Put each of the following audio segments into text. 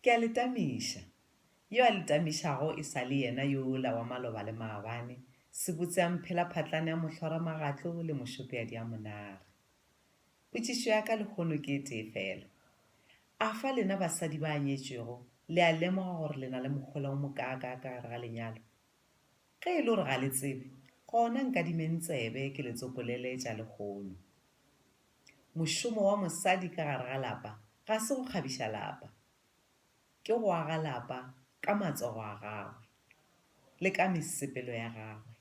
Ke a le tamiša. Yo a le tamišago e sa le yena yola wa maloba le maabane, sebotse a mphelaphatlane a mohlwaramagatlo le mošopeadi a monare. Potšišo ya ka lehono ke e tee feela. A fa lena basadi ba anyetšwego le a lemoga gore le na le mohola o mokaakaa ka gare ga lenyalo? Ge e le gore ga le tsebe, gona nkadimeng tsebe ke le tsopolele tša lehono. Mošomo wa mosadi ka gare ga lapa ga se go kgabiša lapa. Ke go aga lapa ka matsogo a gagwe, le ka mesepelo ya gagwe,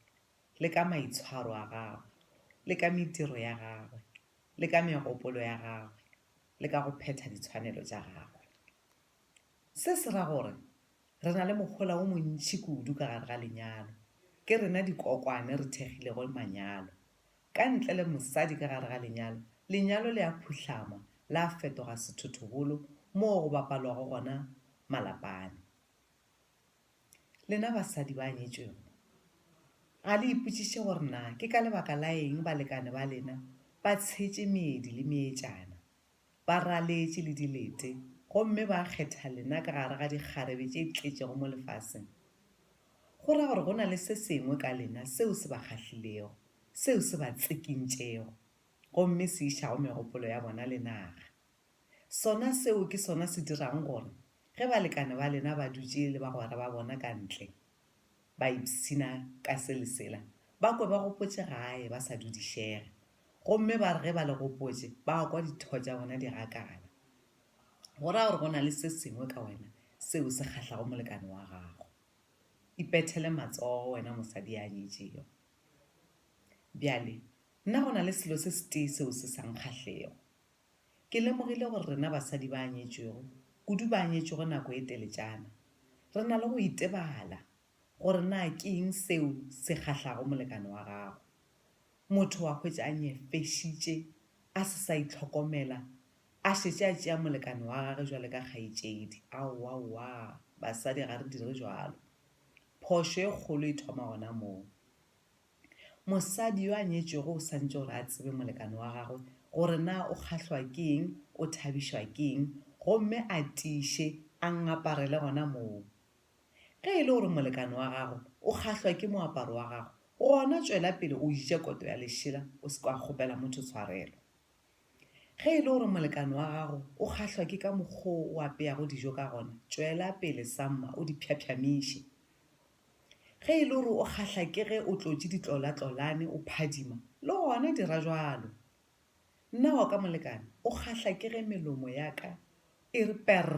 le ka maitshwaro a gagwe, le ka mediro ya gagwe, le ka megopolo ya gagwe, le ka go phetha ditshwanelo tša gagwe. Se se ra gore re na le mohola wo montši kudu ka gare ga lenyalo. Ke rena dikokwane re thekgilego manyalo. Ka ntle le mosadi ka gare ga lenyalo, lenyalo le a phuhlama, la fetoga sethothobolo moo go bapalwago gona malapane. Lena basadi ba nyetšwego, ga le ipotšiše gore na ke ka lebaka la eng balekane ba lena ba tshetše meedi le meetšana? ba raletše le dilete gomme ba kgetha lena ka gare ga dikgarebe tše tletšego mo lefaseng, go ra gore go na le se sengwe ka lena seo se ba kgahlilego, seo se ba tsikintšego gomme se išago megopolo ya bona le naga. Sona seo ke sona se dirago gore ge balekane ba lena ba dutše le bagwera ba bona ka ntle ba ipshina ka se le sela, ba kwe ba gopotše gae ba sa dudišega. Gomme ba re ge ba le gopotše, ba kwa ditho tša bona di gakala. Go ra gore go na le se sengwe ka wena seo se kgahlago molekane wa gago. Ipethele matsogo, wena mosadi ya nyetšego. Bjale, nna go na le selo se setee seo se sa nkgahlego. Ke lemogile gore rena basadi ba nyetšwego, kudu ba nyetšwego nako e teletšana, re na le go itebala gore na ke eng seo se kgahlago molekane wa gago. Motho wa hwetša a nyefešitše, a se sa itlhokomela, a šetše a tšea molekane wa gage bjale ka kgaetšedi. Aowaowa, basadi ga re dire bjalo. Phošo e kgolo e thoma gona moo. Mosadi yo a nyetšwego o santše gore a tsebe molekane wa gagwe gore na o kgahlwa ke eng, o thabišwa ke eng, gomme a tiiše, a ngaparele gona moo. Ge e le gore molekane wa gago o kgahlwa ke moaparo wa gago, gona tšwela pele o je koto ya lešela o se ka kgopela motho tshwarelo. Ge e le gore molekane wa gago o kgahlwa ke ka mokgwa o o apeyago dijo ka gona, tšwela pele samma o di phyaphyamise. Ge e le gore o kgahla ke ge o tlotše ditlolatlolane o phadima, le gona dira bjalo. Nna wa ka molekane o kgahla ke ge melomo ya ka e re perr,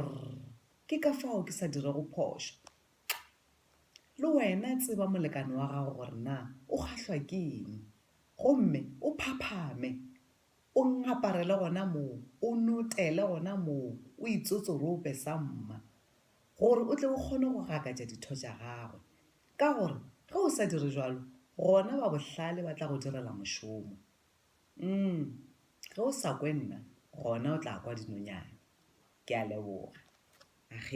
ke ka fao ke sa dirego phošo. Le wena tseba molekane wa gago gore na o kgahlwa ke eng, gomme o phaphame, o ngaparele gona moo, o notele gona moo, o itsotsorope sa mma, gore o tle o kgone go gakatša ditho tša gagwe. Ka gore ge o sa dire bjalo, gona ba bohlale ba tla go direla mošomo. Umm, ge o sa kwe nna, gona o tla kwa dinonyane. Ke a leboga. Akge.